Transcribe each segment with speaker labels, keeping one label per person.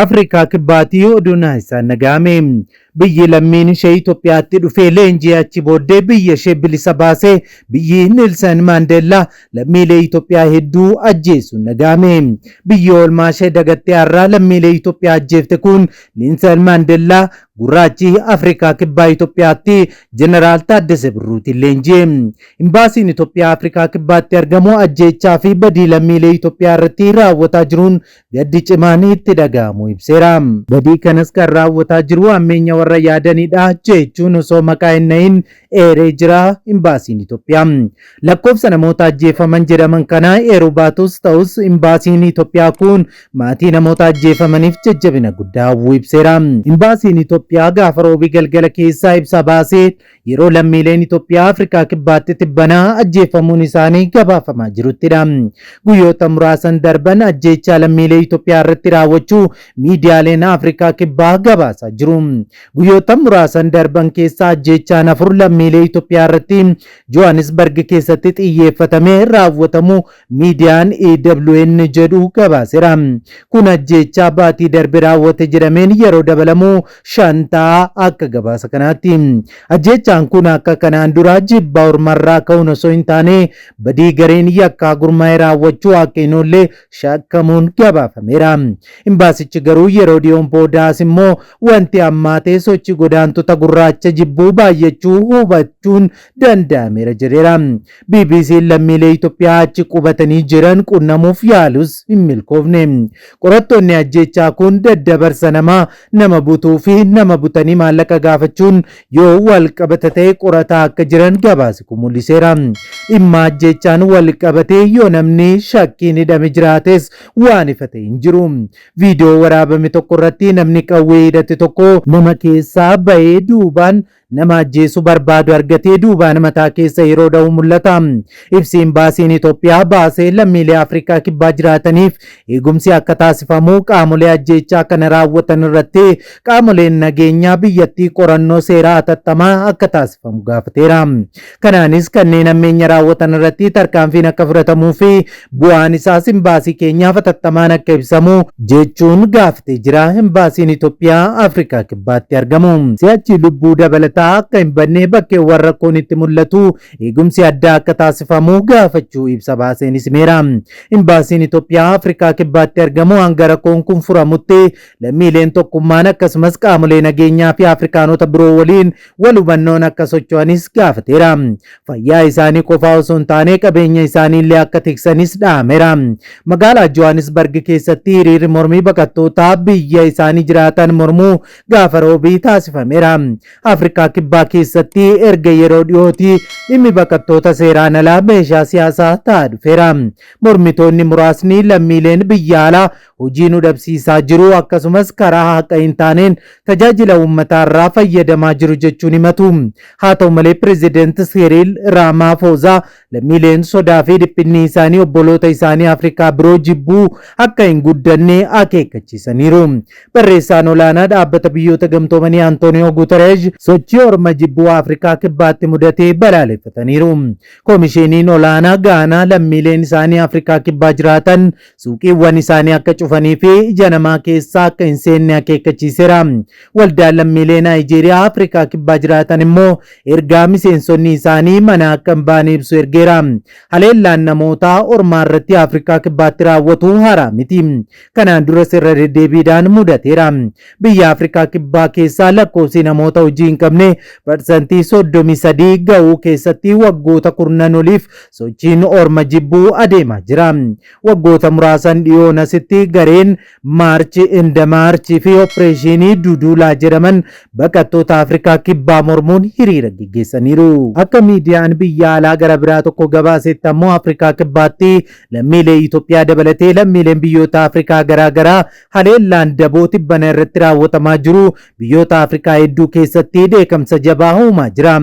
Speaker 1: Afrikaa Kibbaati oduun isaan nagahame. Biyyi lammiin ishee Itoophiyaatti dhufee leenjii achi booddee biyya ishee bilisa baase biyyi Niilsan Maandeellaa lammiilee Itoophiyaa hedduu ajjeesuun nagahame. Biyyi oolmaa ishee dagattee har'aa lammiilee Itoophiyaa ajjeefte kun Niilsan Maandeellaa gurraachi Afrikaa Kibbaa Itoophiyaatti Jeneraal Taaddese Birruutiin leenji'e. Imbaasiin Itoophiyaa Afrikaa Kibbaatti argamu ajjeechaa fi badii lammiilee Itoophiyaa irratti raawwataa jiruun gaddi cimaan itti dhaga'amu ibseera. Badii kanas kan raawwataa jiru hammeenya warra yaadanidha jechuun osoo maqaa hin dhahin eeree jira Imbaasiin Itoophiyaa. Lakkoofsa namoota ajjeefaman jedhaman kana eeruu baatus ta'us Imbaasiin Itoophiyaa kun maatii namoota ajjeefamaniif jajjabina guddaa hawwuu ibseera. Imbaasiin Itoophiyaa gaafa Roobii galgala keessaa ibsa baaseen Yeroo lammiileen Itoophiyaa Afrikaa Kibbaatti tibbana ajjeefamuun isaanii gabaafamaa jiruttidha. Guyyoota muraasan darban ajjeechaa lammiilee Itoophiyaa irratti raawwachuu miidiyaaleen Afrikaa Kibbaa gabaasaa jiru. Guyyoota muraasan darban keessa ajjeechaan afur lammiilee Itoophiyaa irratti Johannesburg keessatti xiyyeeffatamee raawwatamu miidiyaan EWN jedhu gabaasera. Kun ajjeechaa baatii darbe raawwate jedhameen yeroo dabalamu shan ta'a akka gabaasa kanaatti. Ajjeechaan kun akka kanaan duraa jibba ormarraa ka'uun osoo hin taane badii gareen yakkaa gurmaa'ee raawwachuu akka hin oolle shakkamuun gabaafameera. Imbaasichi garuu yeroo dhiyoon boodaas immoo wanti ammaatee sochii godaantota gurraacha jibbuu baay'achuu hubachuun danda'ameera jedheera. BBC'n lammiilee Itoophiyaa achi qubatanii jiran qunnamuuf yaalus hin milkoofne. Qorattoonni ajjeechaa kun daddabarsa namaa, nama butuu fi nama butanii maallaqa gaafachuun yoo walqabata ta'e qorataa akka jiran gabaasi kun mul'iseera. Dhimma ajjeechaan walqabatee yoo namni shakkiin hidhame jiraates waan ifa ta'e hin jiru. Viidiyoo waraabame tokko irratti namni qawwee hidhate tokko nama keessaa ba'ee duubaan Nama ajjeesu barbaadu argatee duubaan mataa keessa yeroo dhahu mul'ata. Ibsi Imbaasiin Itoophiyaa baase lammiilee Afrikaa Kibbaa jiraataniif eegumsi akka taasifamu qaamolee ajjeechaa kana raawwatan irratti qaamoleen nageenyaa biyyattii qorannoo seeraa hatattamaa akka taasifamu gaafateera. Kanaanis kanneen hammeenya raawwatan irratti tarkaanfiin akka fudhatamuu fi bu'aan isaas imbaasii keenyaaf hatattamaan akka ibsamu jechuun gaafatee jira imbaasiin Itoophiyaa Afrikaa Kibbaatti argamu. Si'achi lubbuu dabalataa akka hin badne bakkeewwan rakkoon itti mul'atu eegumsi addaa akka taasifamu gaafachuu ibsa baaseen himeera. Imbaasiin Itoophiyaa Afrikaa Kibbaatti argamu hanga rakkoon kun furamutti lammiileen tokkummaan akkasumas qaamolee nageenyaa fi Afrikaanota biroo waliin wal hubannoon akka socho'anis gaafateera. Fayyaa isaanii qofaa osoo hin taane qabeenya isaanii illee akka tiksanis dhaameera. Magaalaa Johannesburg keessatti hiriirri mormii baqattootaa biyya isaanii jiraatan mormuu gaafa roobii taasifameera. Afrikaa Kibbaa keessatti erga yeroo dhiyooti dhimmi baqattoota seeraan alaa meeshaa siyaasaa ta'aa dhufeera. Mormitoonni muraasni lammiileen biyya alaa hojii nu dhabsiisaa jiru akkasumas karaa haqa hin taaneen tajaajila uummataa irraa fayyadamaa jiru jechuun himatu. Haa ta'u malee pireezidanti Siiriil Raamaafoozaa lammiileen sodaa fi dhiphinni isaanii obboloota isaanii Afrikaa biroo jibbuu akka hin guddanne akeekkachiisaniiru. Barreessaan olaanaa dhaabbata biyyoota gamtoomanii Antooniyoo Guutereesh sochii orma jibbuu Afrikaa kibbaatti mudatee balaaleffataniiru. Komishiiniin olaanaa Gaanaa lammiileen isaanii Afrikaa kibbaa jiraatan suuqiiwwan isaanii akka cufanii fi ija namaa keessaa akka hin seenne akeekkachiiseera. Waldaan lammiilee Naayijeeriyaa Afrikaa Kibbaa jiraatan immoo ergaa miseensonni isaanii mana akka hin baane ibsu ergeera. Haleellaan namootaa ormaa irratti Afrikaa Kibbaatti raawwatu haaraa miti. Kanaan duras irra deddeebiidhaan mudateera. Biyya Afrikaa Kibbaa keessaa lakkoofsi namoota hojii hin qabne parsantii 33 ga'uu keessatti waggoota kurnan oliif sochiin orma jibbuu adeemaa jira. Waggoota muraasan dhiyoon asitti gareen Maarchi inda Maarchi fi Oppireeshinii Duduulaa jedhaman baqattoota Afrikaa Kibbaa mormuun hiriira geggeessaniiru. Akka miidiyaan biyya alaa gara biraa tokko gabaasetti ammoo Afrikaa Kibbaatti lammiilee Itoophiyaa dabalatee lammiileen biyyoota Afrikaa garaa garaa haleellaan daboo tibbana irratti raawwatamaa jiru biyyoota Afrikaa hedduu keessatti dheekamsa jabaa uumaa jira.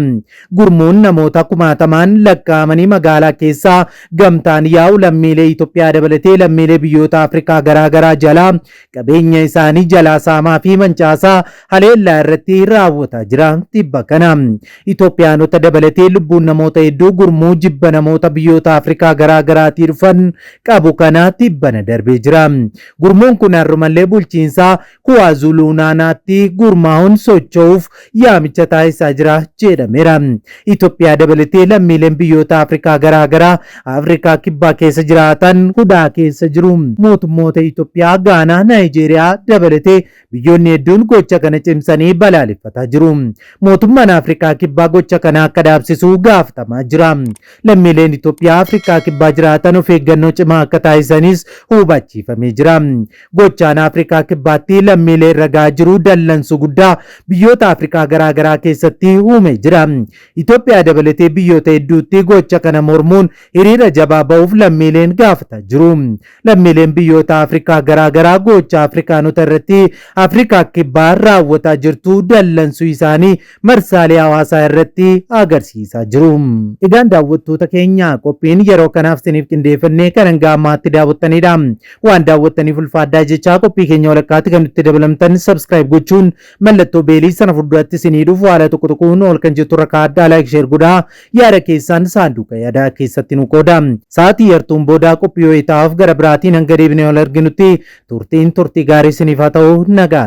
Speaker 1: Gurmuun namoota kumaatamaan lakkaa'amanii magaalaa keessaa gamtaan yaa'u lammiilee Itoophiyaa dabalatee lammiilee biyyoota Afrikaa garaagaraa jalaa qabeenya isaanii jalaa saamaa fi mancaasaa haleellaa irratti raawwataa jira. Tibba kana Itoophiyaanota dabalatee lubbuun namoota hedduu gurmuu jibba namoota biyyoota Afrikaa garaagaraatii dhufan qabu kana tibbana darbee jira. Gurmuun kun har'umallee bulchiinsa Kuwaazuluunaanaatti gurmaa'uun socho'uuf yaamicha taasisaa jira jedhameera. Itoophiyaa dabalatee lammiileen biyyoota Afrikaa garaa garaa Afrikaa Kibbaa keessa jiraatan hudhaa keessa jiru. Mootummoota Itoophiyaa, Gaanaa, Naayijeeriyaa dabalatee biyyoonni hedduun gocha kana cimsanii balaaleffataa jiru. Mootummaan Afrikaa Kibbaa gocha kana akka dhaabsisu gaafatamaa jira. Lammiileen Itoophiyaa Afrikaa Kibbaa jiraatan of eeggannoo cimaa akka taasisanis hubachiifamee jira. Gochaan Afrikaa Kibbaatti lammiilee irra gahaa jiru dallansuu guddaa biyyoota Afrikaa garaa garaa keessatti uumee jira. Itoophiyaa dabalatee biyyoota hedduutti gocha kana mormuun hiriira jabaa ba'uuf lammiileen gaafataa jiru. Lammiileen biyyoota Afrikaa garaa garaa gocha Afrikaanota irratti Afrikaa Kibbaa raawwataa jirtu dallansuu isaanii marsaalee hawaasaa irratti agarsiisaa jiru. Egaan daawwattoota keenya qophiin yeroo kanaaf isiniif qindeeffannee kan hanga ammaatti daawwattanidha. Waan daawwattaniif ulfaadhaa jechaa qophii keenya walakkaatti kan nutti dabalamtan subscribe gochuun mallattoo beelii sana fuulduratti isinii dhufu haala tokko tokkoon ol kan jettu irra kaa'adhaa like share godhaa. Yaada keessaan saanduuqa yaadaa keessatti nu qooda. Sa'aatii yartuun boodaa qophii wayitaa'aaf gara biraatiin hanga deebinee wal arginutti turtiin turtii gaarii isiniif haa ta'u nagaa.